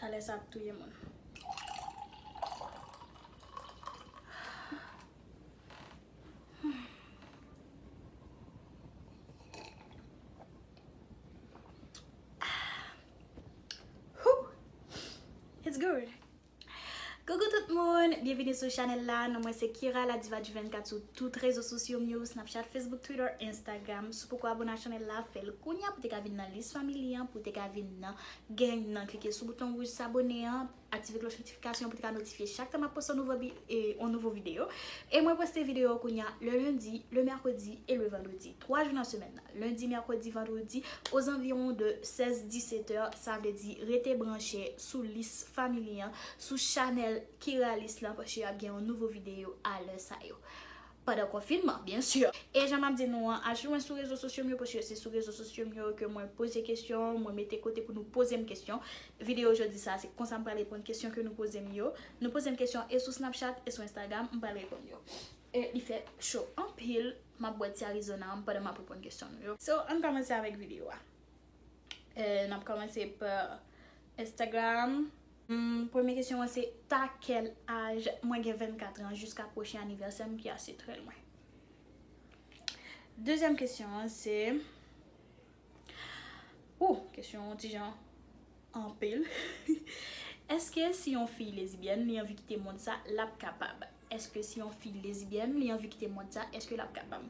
Chalè sa ap touye moun. It's good. Coucou tout moun, bienvenue sou chanel la. Non mwen se Kira la diva du 24 sou tout rezo sosyo m yo, Snapchat, Facebook, Twitter, Instagram. Si w poko abone ak chanel la, fè l kounya pou te ka vin nan lis family an, pou te ka vin nan Gen nan klike sou bouton wouj sabone an, aktive klòch notifikasyon an pou te ka notifye chak tan map poste yon nouvo videyo. E mwen poste videyo yo kounya le lendi, le mèkredi e le vandredi. 3 jou nan semèn nan. Lendi, mèkredi, vandredi o zanviwon de 16, 17 è. Sa vle di rete branche sou lis family an, sou chanèl Kiralis lan paske ap gen yon nouvo videyo a lè sa yo. Pandan konfinman, byen sûr. E jan m'ap di nou an, al pi lwen sou rezo sosyo m yo paske se sou rezo sosyo m yo ke mwen poze kesyon, mwen mete kote pou nou poze m kesyon. Videyo jodi sa a se konsa m pral reponn kesyon ke nou poze m yo. Nou poze m kesyon e sou Snapchat e sou Instagram, m pral reponn yo. E li fè cho anpil, m'ap bwè ti Arizona m pandan m'ap reponn kesyon nou yo. So, ann kòmanse avèk videyo a. N'ap kòmanse pa Instagram. Premye kesyon an se ta kèl aj? Mwen gen 24 tran jiska pwochen anivèsèm ki ase trè lwen. Dezyèm kesyon an se Ooh kesyon an ti jan anpil. Eske si yon fi lezibyèn li anvi kite mond sa lap kapab? Eske si yon fi lesbienne li anvi kite mond sa eske lap kapab?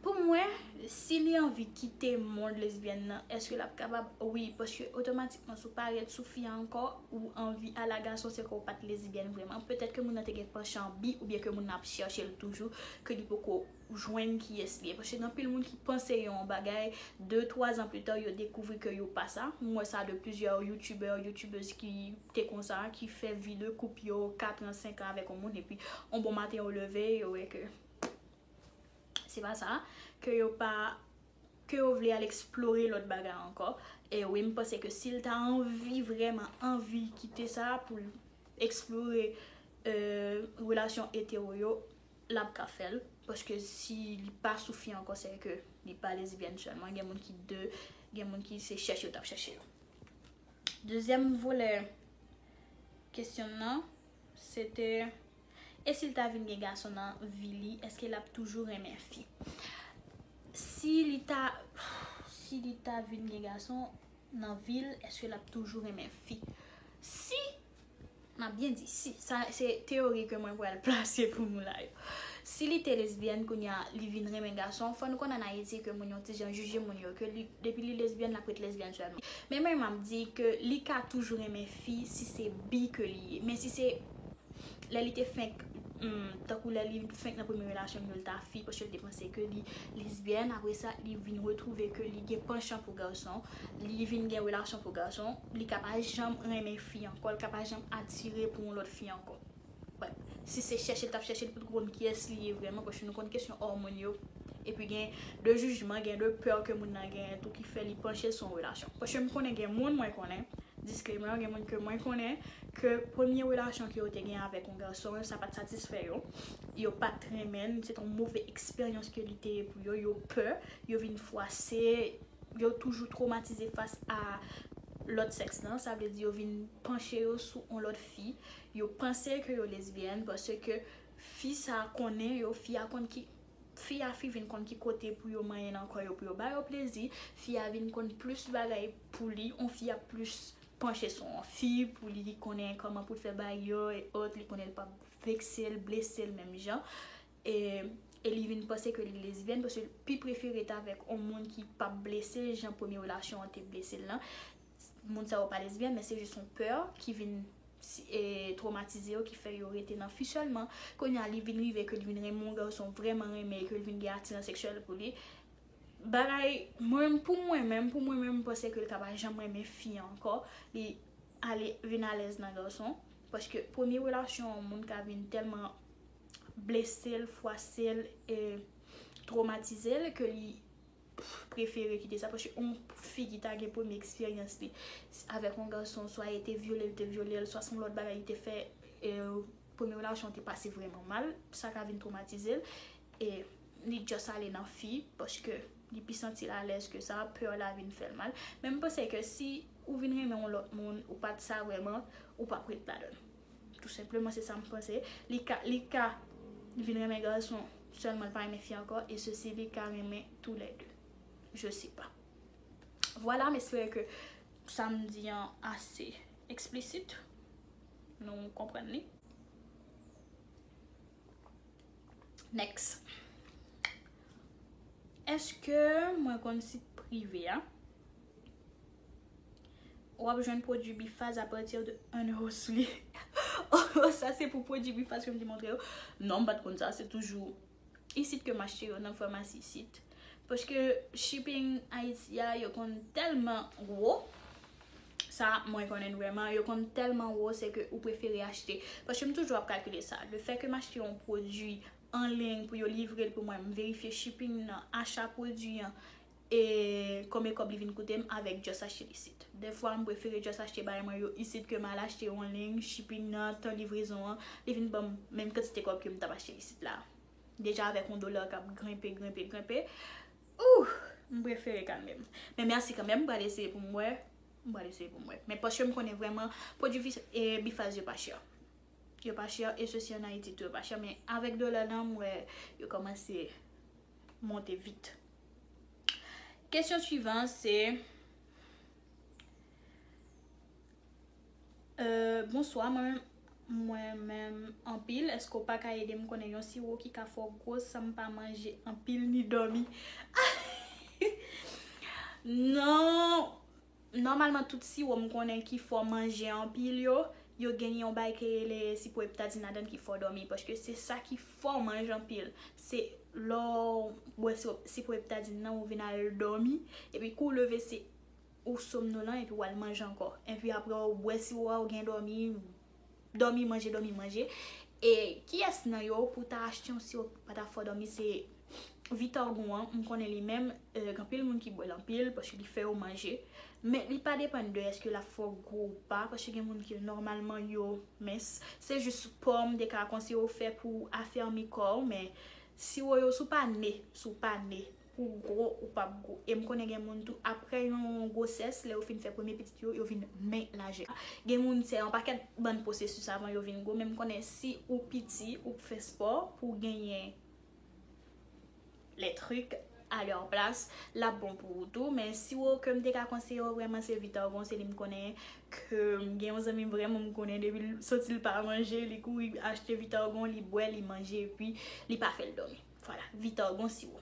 Pou mwen si li anvi kite mond lesbienne nan eske lap kapab wi paske otomatikman si w pa ret sou fi a ankò ou anvi al a gason se ke w pat lesbienne vreman petèt ke moun nan te gen panchan bi oubyen ke moun nan ap chèche l toujou ke li poko jwenn kiyès li ye paske gen anpil moun ki panse yon bagay de twa zan plita yo dekouvri ke yo pa sa m wè sa de plizyè youtubè youtubez ki te konsa ki fè vi de koup yo katran senkan avèk yon moun epi yon bon maten yo leve yo wè ke se pa sa ke yo pa ke yo vle al eksplore lòt bagay ankò e wi m panse ke si l ta anvi vrèman anvi kite sa pou l eksplore relasyon etero yo Lap ka fèl paske si li pa sou fi ankò sè ke li pa lesbienne sèlman gen moun ki de gen moun ki se chèche yo tap chèche yo. Dezyèm volè kesyon m nan se te e si l ta vin gen gason nan vi li eske lap toujou renmen fi? Si li ta si li ta vin gen gason nan vi l eske lap toujou renmen fi? Si M ap byen di si, sa se teyori ke mwen pral plase pou nou la yo. Si li te lesbyèn kounye a li vin renmen gason, fò nou konn an Ayiti ke moun yon ti jan jije moun yo, ke li depi li lesbyèn l ap ret lesbyèn sèlman. Men mwen m ap di ke li ka toujou renmen fi si se bi ke li ye. Men si se lè li te fenk tankou lè li fenk nan premye relasyon li yo li ta fi paske li te panse ke li lesbyèn apre sa li vin retwouve ke li gen panchan pou gason, li vin gen relasyon pou gason, li ka pa janm renmen fi ankò, li ka pa janm atire pou yon lòt fi ankò. Wè, si se chèche li t ap chèche, li potko konn kiyès li ye vrèman, paske nou konn kesyon òmòn yo, epi gen de jijman, gen de pè ke moun nan genyen tou ki fè li panche sou yon relasyon. Paske m konnen gen moun mwen konnen, disclaimer, gen moun ke mwen konnen ke premye relasyon ke yo te gen avèk yon gason, sa pa t satisfè yo, yo pa t renmen l, se t yon move eksperyans ke li te ye pou yo, yo pè, yo vin fwase, Yo toujou twomatize fas a lòt sèks lan, sa vle di yo vin panche yo sou yon lòt fi, yo panse ke yo lesbyèn paske fi sa konnen yo, fi a konn ki, fi a fi vin konn ki kote pou yo manyen nan kò yo pou yo ba yo plezi, fi a vin konn plis bagay pou li, yon fi ap plis panche sou yon fi pou li konnen kòman pou l fè bagy yo et autres, li konnen l pap vekse l, blese l menm jan. e li vin panse ke li lesbyèn paske l pi prefere rete avèk on moun ki p ap blese l jan premye relasyon an te blese l lan, moun sa yo pa lesbyèn men se jis on pè ki vin twomatize yo ki fè yo rete nan fi sèlman, kounye a li vin rive ke li vin renmen on gason vrèman renmen e ke l vin gen atiran seksyèl pou li, bagay mwen pou mwen menm pou mwen menm m panse ke l ka pa janm renmen fi ankò li ale vin alèz nan gason paske premye relasyon an moun ka vin tèlman. blese l, fwase l, e twomatize l ke li prefere kite sa. Paske yon fi ki ta gen premye eksperyans li avèk yon gason, swa e te vyole l, te vyole l, swa se yon lòt bagay li te fè, e premye relasyon te pase vrèman mal, sa ka vin twomatize l, e li just ale nan fi, paske li pi santi l alèz ke sa, peur la vin fè l mal. Men m panse ke si ou vin renmen yon lòt moun, ou pa t sa vrèman, ou p ap ret ladan l. Tou senpleman se sa m panse. Li ka li ka vin renmen gason sèlman li pa renmen fi ankò e ceci li ka renmen tou lè 2. Je sais pas. Vwala m espere ke sa m di an ase eksplisit. Nou konprann li. Next. Eske mwen konn sit prive a? Wap jwenn pwodwi bifaz a pati de 1 euro sou li. Oh sa se pou pwodwi bifaz ke m te montre yo? Non m pat konn sa, se toujou isit ke m achte yo nan famasi isit. Paske shipping Ayiti a yo konn tèlman wo, sa mwen konnen vrèman, yo konn tèlman wo se ke ou prefere achte. Paske m toujou ap kalkile sa, le fè ke m achte yon pwodwi anliy pou yo livre l pou mwen, m verifye shipping nan, acha pwodwi an, E konbyen kòb li vin koute m avèk just achte l isit. Dèfwa m prefere just achte bagay mwen yo isit ke m al achte on ling, shipping nan, tan livrezon an, li vin ban m menm kantite kòb ke m t ap achte l isit la. Deja avèk on dola k ap grenpe, grenpe, grenpe, ooh! M prefere kalme m. Men mèsi kanmèm, m pral eseye pou m wè, m pral eseye pou m wè. Men paske m konnen vrèman pwodui Bifaz yo pa chè. Yo pa chè e sesi an Ayiti tou yo pa chè men avèk dola la m wè yo kòmanse monte vit. Kesyon swivan se euh, Bonswa mwen menm Mwen menm anpil eske ou paka edem konnen yon siwo ki ka fè w gwos san m pa manje anpil ni dòmi ahh non Nòmalman tout siwo m konnen ki fò manje anpil yo, yo gen yon bay ke rele sipo eptadin ladan ki fò dòmi paske se sa ki fè w manje anpil. Se lè w bwè sipo eptadin nan ou vin al dòmi epi kou w leve se ou somnolan epi w al manje ankò. Epi aprè w bwè siwo a ou gen dòmi Dòmi manje dòmi manje E kiyès nan yo pou ta achte yon siwo pou pata fò dòmi se Vitargo an m konnen li menm gen anpil moun ki bwèl anpil paske li fè yo manje men li pa depann de èske lap fè w gwo ou pa paske gen moun ki nòmalman yo mens se jis po m te ka konseye w fè pou afèmi kò w men siwo yo sou pa ne sou pa ne Ou gwo ou pap gwo. E m konnen gen moun tou aprè yon gwosès lè yo fin fè premye pitit yo, yo vin men lajè. Gen moun se yon pakèt bann pwosesis avan yo vin gwo men m konnen si ou piti ou p fè spò pou w genyen les trucs à leur place l ap bon pou ou tou men si w ke m te ka konseye w vrèman se Vitargon se li m konnen ke m gen yon zanmi m vrèman m konnen depi l soti l pa manje li kouri achte Vitargon li bwè li manje epi li pa fè l dòmi. Vwala, Vitor gon siwo.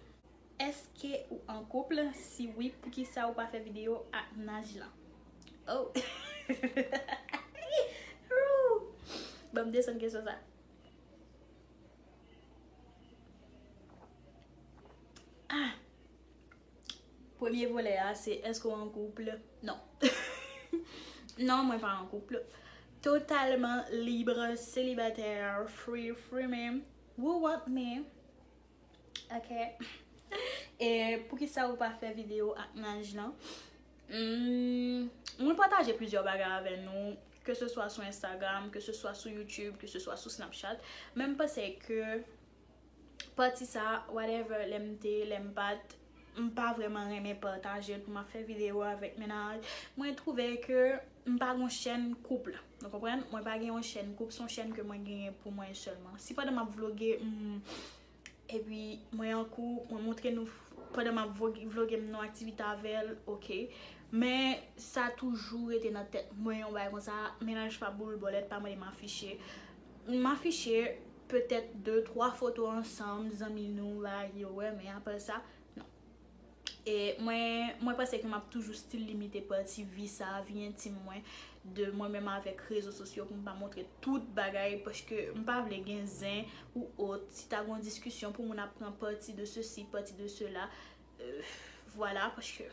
Eske ou an couple? Si wi poukisa ou pa fè video ak mnaj lan? Oh ooh banm desann kesyon sa ah premye volè a se eske ou an couple non non mwen pa an couple totalman libre célibataire free free menm Wou want me ok e poukisa ou pa fè video ak naj lan humm mwen pataje plizyè bagay avè nou ke se swa sou instagram ke se swa sou youtube ke se swa sou snapchat menm panse ke pati sa whatever lèm te lèm pat M pa vreman renmen patajel pou map fè video avek mennaj mwen trouve ke m pa gon chèn couple nou konprann mwen pa gen yon chèn couple son chèn ke mwen genyen pou mwen selman si pandan map vloge m epi mwen an couple mwen montre nou pandan map vloge m nou aktivite avèl ok men sa toujou rete nan tèt mwen yon bagay konsa mennaj pa boul bòlèt pa mande m afiche m afiche petèt de twa foto ansanm zanmi nou la yo wè men aprè sa non e mwen mwen panse ke map toujou stil limite pati vi sa vi entim mwen de mwen menm avèk rezo sosyo pou m pa montre tout bagay paske m pa vle gen zen ou ot si ta gon diskisyon pou moun ap pran pati de sesi pati de sela vwala paske.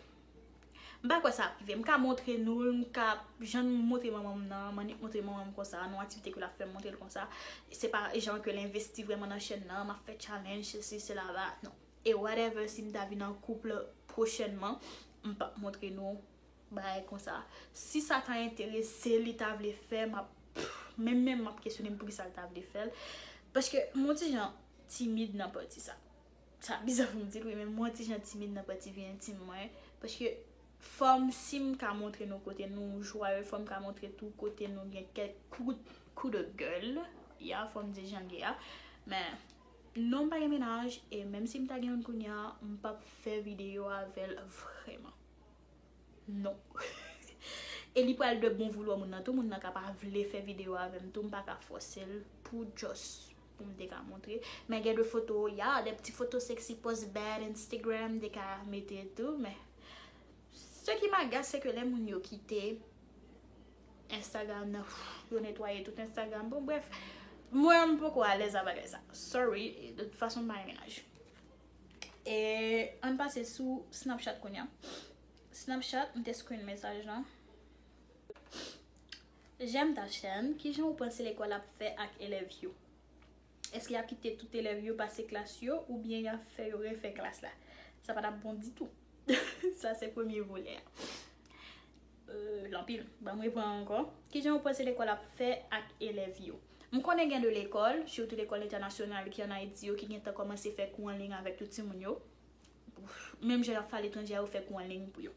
M pa kwè sa ap rive. M ka montre nou l, m ka, jan m montre manman m nan, m annik montre manman m konsa, nan yon aktivite ke l ap fè m montre l konsa. Se pa jan ke l envesti vrèman nan chèn nan, m ap fè challenge, sesi, sela, la, non. E whatever si m ta vin an couple prochènman, m p ap montre nou bagay konsa. Si sa ta enterese l, li ta vle fè, m ap, menm menm m ap kesyone m poukisa l ta vle fè l. Paske m on ti jan timid nan pati sa. Sa biza poum di wi men mwen ti jan timid nan pati vi entim mwen paske fòm sim ka montre nou kote nou jwaye fòm ka montre tou kote nou gen kèk kout kou de gèl ya fòm di janl ye a men non pa gen menaj e menm sim ta gen youn kounya m pap fè video avèl vrèman non e li pral de bon voulwa moun nan tou moun nan ka pa vle fè video avèm tou m paka fòsel pou just. Pou m te ka montre. Men gen de foto ya de pti foto sexy post bad instagram m te ka mete tou men ce qui m'agace se ke lè moun yo kite instagram nan yo netwaye tout instagram bon bref mwen m poko alèz a bagay sa sorry de tout fason m pa renmen laj e ann pase sou snapchat kounya snapchat m te screen mesaj lan. J'aime ta chaîne, kijan ou panse lekòl ap fè ak elèv yo? Eske yap kite tout elèv yo pase klas yo oubyen yap fè yo refè klas la? Sa pa tap bon ditou. Sa se premye volè a. Euh l anpil. Banm repran ankò. Kijan ou panse lekòl ap fè ak elèv yo? M konnen gen de lekòl, sitou lekòl entènasyonal ki an Ayiti yo ki gentan kòmanse fè kou anliy avèk tout timoun yo. Menm jan yap fè aletranje a yo fè kou anliy pou yo.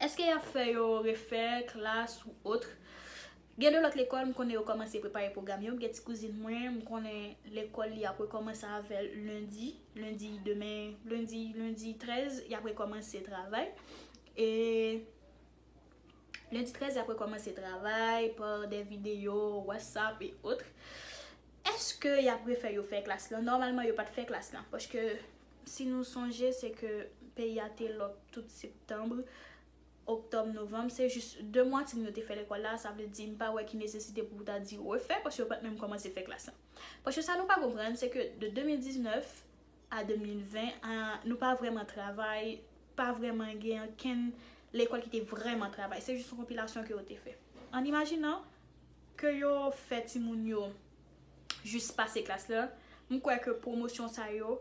Eske yap fè yo refè klas ou otre? Gen de lòt lekòl m konnen yo kòmanse prepare pwogram yo, m gen ti kouzin mwen m konnen lekòl li ap rekòmanse avè l lendi, lendi demen, lendi, lendi 13 yap rekòmanse travay e lendi 13 yap rekòmanse travay pa de videyo, whatsapp e otre eske yap refè yo fè klas lan? Nòmalman yo pat fè klas lan paske. Si nou sonje se ke peyi a te lòk tout septanbre, oktòb, novanm, se jis 2 mwa timoun yo te fè lekòl la, sa vle di m pa wè ki nesesite pou ou ta di refè paske yo pat menm kòmanse fè klas lan. Paske sa nou pa konprann se ke de 2019 a 2020 a nou pa vrèman travay, pa vrèman gen ankenn lekòl ki te vrèman travay, se jis yon konpilasyon ke yo te fè. An imajinan ke yo fè timoun yo jis pase klas la, m kwè ke pwomosyon sa yo,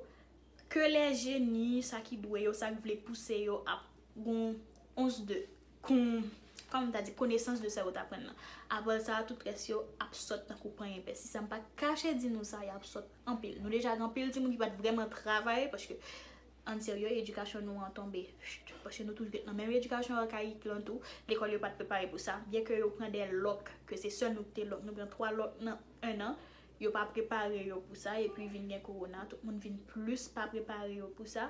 ke lè jeni, sa ki dwe yo, sa k vle pouse yo ap gon ons de, kon, kòman m ta di, konesans de sa yo t aprann nan. Apre sa, tout rès yo ap sòt tankou panyen pè. Si sa m pa kache di nou sa, y ap sòt anpil. Nou deja gen anpil timoun ki pa t vrèman travay, paske Ann serye edikasyon nou an tonbe cht paske nou toujou nan menm edikasyon arkayik lan tou lekòl yo pat prepare pou sa byen ke yo pran 2 lòk ke se sèl nou ki te lòk nou pran 3 lòk nan 1 an yo pa prepare yo pou sa epi vin gen kowona tout moun vin plis pa prepare yo pou sa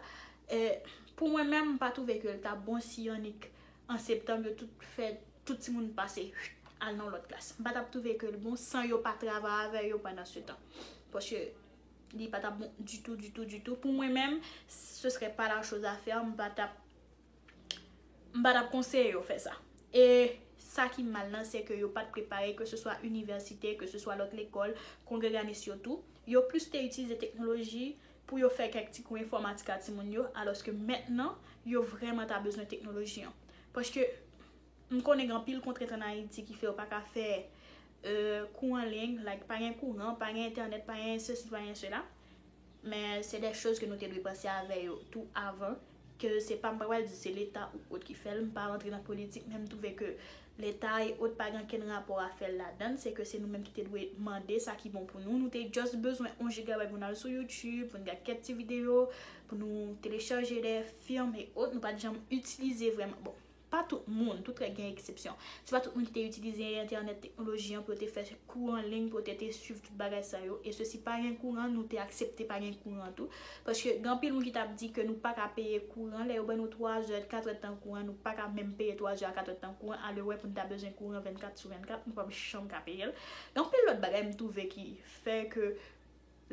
pou mwen menm m pa twouve ke l ta bon si annik an septanm yo tout fè tout timoun pase cht al nan lòt klas m pa tap twouve ke l bon san yo pa travay avè yo pandan se tan paske. Li pa tap bon ditou, ditou, ditou. Pou mwen menm, se sre pa la choz a fè. M pa tap, m pa tap konseye yo fè sa. E sa ki mal nan, se ke yo pat prepare, ke se swa inivèsite, ke se swa lòt lekòl, kongreganis yo tou. Yo plis te itilize teknoloji pou yo fè kèk ti kou enfòmatik a timoun yo, alòske mentnan, yo vrèman ta bezwen teknoloji an. Paske, M konnen gen anpil kontrent an Ayiti ki fè yo pa ka fè kou an ligne, like pa gen kouran, pa gen entènèt, pa gen sesi, pa gen sela. Men se dè choz ke nou te dwe panse avè yo tou avan, ke se pa m pa pral di se leta ou ot ki fè l, m pa rantre nan politik men m twouve ke leta e ot pa gen ankenn rapò a fè ladann, se ke se nou menm ki te dwe mande sa ki bon pou nou, nou te just bezwen on jigabay pou n al sou youtube, pou n gad kèk ti videyo, pou nou telechaje dè film e ot, nou pa t janm itilize vrèman, bon Pa tout moun, tout règ gen eksepsyon. Se pa tout moun ki te itilize entènèt, teknoloji an pou yo te fè kou an liy, pou yo te te swiv tout bagay sa yo. E se si pa gen kouran, nou te aksepte pa gen kouran tou. Paske gen anpil moun ki tap di ke nou pa ka peye kouran, lè yo ban nou 3 zè, 4 èd tan kouran, nou pa ka menm peye 3 zè a 4 èd tan kouran, alewè pou nou ta bezwen kouran 24 sou 24, nou pap janm ka peye l. Gen anpil lòt bagay m twouve ki fè ke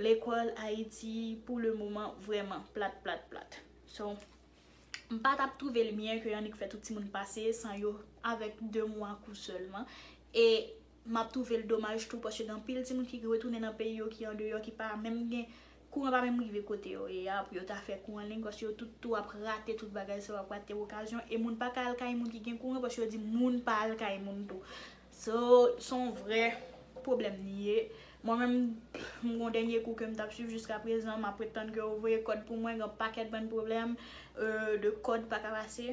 lekòl Ayiti pou le moman vrèman plat plat plat. So. M pa tap trouve l byen ke Yannick fè tout timoun pase san yo avèk 2 mwa kou sèlman e map trouve l domaj tou paske gen anpil timoun ki retounen nan peyi yo ki andeyò ki pa menm gen kouran pa menm rive kote yo ye a pou yo ta fè kou anliy paske yo tout tou ap rate tout bagay sa yo ap rate okazyon e moun pa ka al kay moun ki gen kouran paske yo di moun pa al kay moun tou. So son vrè pwoblèm li ye. Mwen menm m gon dènye kou ke m tap swiv jiska prezan map ret tann ke yo voye kòd pou mwen gen yon pakèt bann pwoblèm de kòd pa ka pase.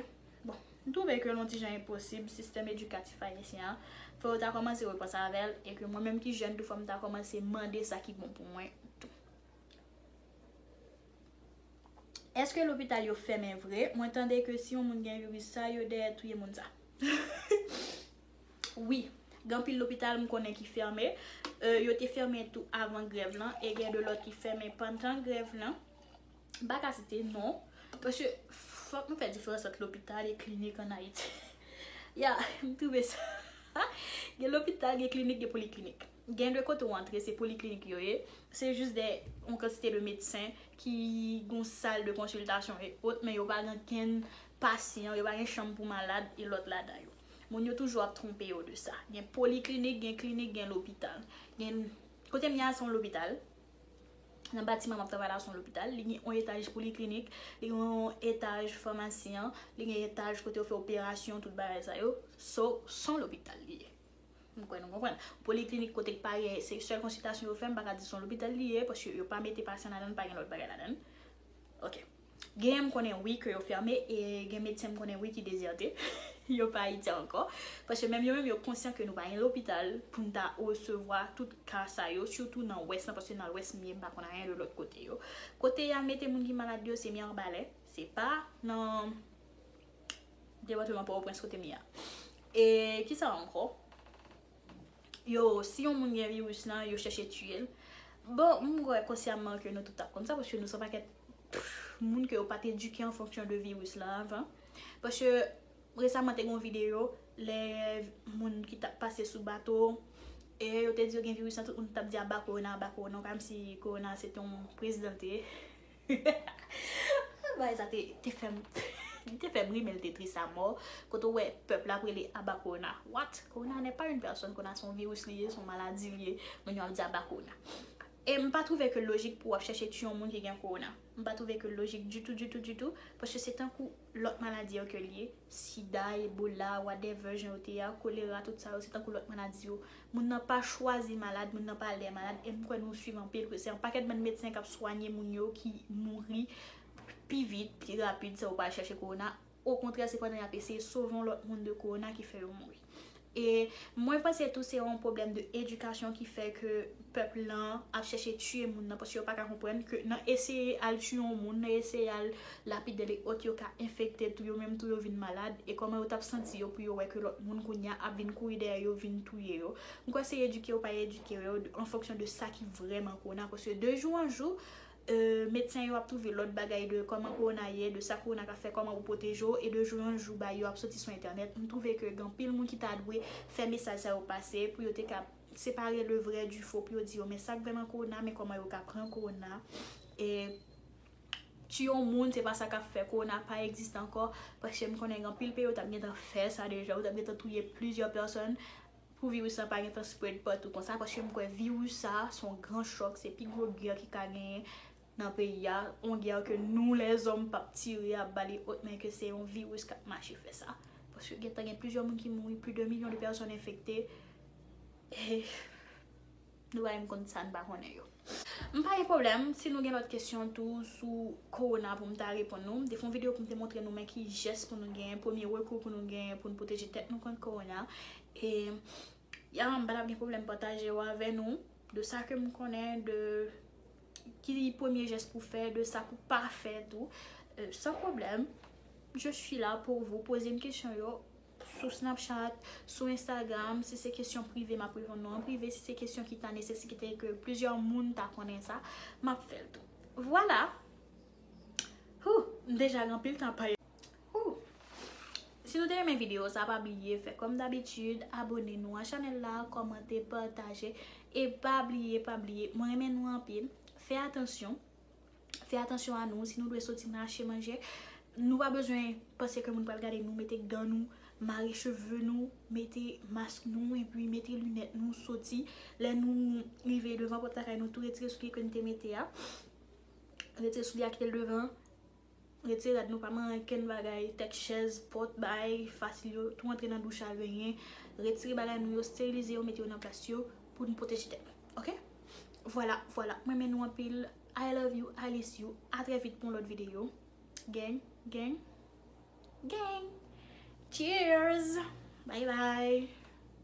Bon m twouve ke l yon ti jan enposib sistèm edikatif ayisyen an fò yo ta kòmanse repanse avèl e ke mwen menm ki jèn tou fò m ta kòmanse mande sa ki bon pou mwen tou. Eske lopital yo fèmen vre mwen tande ke si yon moun gen viris sa yo dèyè touye moun sa wi gen anpil lopital m konnen ki fèmen yo te fèmen tou avan grèv lan e gen de lòt ki fèmen pandan grèv lan m pa ka site non paske fòk nou fè diferans ant lopital e klinik an ayiti ya m twouve sa gen lopital gen klinik gen poliklinik. Gen de kote ou antre se poliklinik yo ye, se jis de yon kantite de medsen ki gen yon sal de konsiltasyon e ot men yo pa gen ankenn pasyan, yo pa gen chanm pou malad e lòt ladan yo. Moun yo toujou ap twonpe yo de sa. Gen poliklinik, gen klinik, gen lopital. Gen Kote m ye a se yon lopital, nan batiman m ap travay la se yon lopital, li gen yon etaj poliklinik, li gen yon etaj famasi an, li gen etaj kote yo fè operasyon tout bagay sa yo. So, se yon lopital li ye. M kwè nou konprann. Poliklinik kote k pa gen, se sèl konsiltasyon yo fè, m pa ka di se yon lopital li ye, paske yo pa mete pasyan ladan l, pa gen lòt bagay ladan l. Ok. Genyen m konnen wi ke yo fèmen, e gen medsen m konnen wi ki dezète, yo pa Ayiti ankò. Paske menm yo menm yo konsyan ke nou pa gen lopital pou n ta resevwa tout ka sa yo, sitou nan wès lan, paske nan lwès m ye, m pa konn anyen de lòt kote yo. Kote y al mete moun ki malad yo, se Mirebalais, se pa nan. Depatman Pòtoprens kote m ye a. E kisa ankò? Yo, si yon moun gen viris lan, yo chèche tiye l. Bon, m kwè konsyaman ke nou tout ta konn sa, paske nou se yon pakèt moun ke yo pa te edike an fonksyon de viris lan avan. Paske, resaman te gen yon videyo, lè moun ki tap pase sou bato, e yo te di yo gen viris lan, tout moun tap di aba korona, aba korona, kòmsi korona se te yon prezidan l te ye. Bagay sa te fè m Li te fè m ri men li te tris a mò Kote ou wè pèp la ap rele aba kowona What? Kowona nè pa yn pèsòn Kowona se yon viris li ye, se yon maladi li ye Moun yo ap di aba kowona E m pa twouve ke l lojik pou w ap chèche tiye yon moun ki gen kowona M pa twouve ke l lojik ditou ditou ditou Paske se tankou lòt maladi yo ke l ye Sida, Ebola, whatever jan yo te ye a, kolera, tout sa yo se tankou lòt maladi yo. Moun nan pa chwazi malad, moun nan pa lè malad, e m kwè nou swiv anpil ke se yon pakèt bann medsen k ap swanye moun yo ki mouri pi vit, pi rapid san yo pa al chache kowona, okontrè se pandan y ap eseye sove yon lòt moun de kowona ki fè yo mouri. E mwen panse tou se yon pwoblèm de edikasyon ki fè ke pèp lan ap chèche tiye moun nan paske yo pa ka konprann ke nan eseye al tiye yon moun, nan eseye al lapidel e ot yo ka enfekte tou yo menm tou yo vin malad e kòman yo tap santi yo pou yo wè ke lòt moun kounye a ap vin kouri dèyè yo vin touye yo. M kwè se edike ou pa edike yo an fonksyon de sa ki vrèman kowona paske de jou an jou Medsen yo ap twouve lòt bagay de kòman kowona ye, de sa kowona ka fè, kòman pou pwoteje w, e de jou an jou bay yo ap soti sou entènèt. M twouve ke gen anpil moun ki ta dwe fè mesaj sa yo pase pou yo te ka separe le vrè du fo pou yo di yo men sak vrè nan kowona, men kòman yo ka pran kowona. E tiye yon moun se pa sa kap fè kowona pa egziste ankò, paske m konnen gen anpil peyi yo tap gentan fè sa deja, yo tap gentan touye plizyè pèsòn Pou virus la pa gentan spread patou konsa paske m kwè virus sa son gran chòk se pi gwo gè ki ka genyen nan peyi a on gè ke nou lèzòm pap tire ap bali ot men ke se yon virus kap mache fè sa paske gentan gen plizyè moun ki mouri pli de milyon de pèsòn enfekte e. Nou bay m konn sa n pa konnen yo. M pa gen pwoblèm si nou gen lòt kesyon tou sou kowona pou m ta reponn nou. M te fè yon videyo pou m te montre nou men ki jès pou nou gen, premye rekou pou nou gen pou n pwoteje tèt nou kont kowona. E ya m pa t ap gen pwoblèm pataje yo avè nou de sa ke m konnen de ki premye jès pou fè, de sa pou pa fè tou san pwoblèm. Je suis là pour vous, poze m kesyon yo. sou Snapchat, sou Instagram, si se kesyon prive map reponn nou an prive, si se kesyon ki ta nesesite ke plizyè moun ta konnen sa, map fèl tou. Vwala! Hoo! M deja gen anpil tan pale. Hoo! Si nou te renmen video sa pa bliye fè kòm dabitid, abone nou a chanèl la, kòmante, pataje, e pa bliye, pa bliye, mwen renmen nou anpil, fè atansyon. fè atansyon a nou, si nou dwe soti nan achte manje, nou pa bezwen panse ke moun pral gade nou, mete gan nou, mare cheve nou, mete mask nou, epi mete linèt nou soti, lè nou rive devan pòt lakay nou tou retire soulye ke nou te mete a, retire soulye a kite l devan. Rete rad nou pa mare ankenn bagay, tèt chèz, pòt, bay fasil yo, tou antre nan douch a renyen, retire bagay nou yo, sterilize yo mete yo nan plas yo pou nou pwoteje tèt nou ok vwala vwala m renmen nou anpil I love you Alice you a trè vit pou yon lòt videyo gang gang gang cheers bye bye.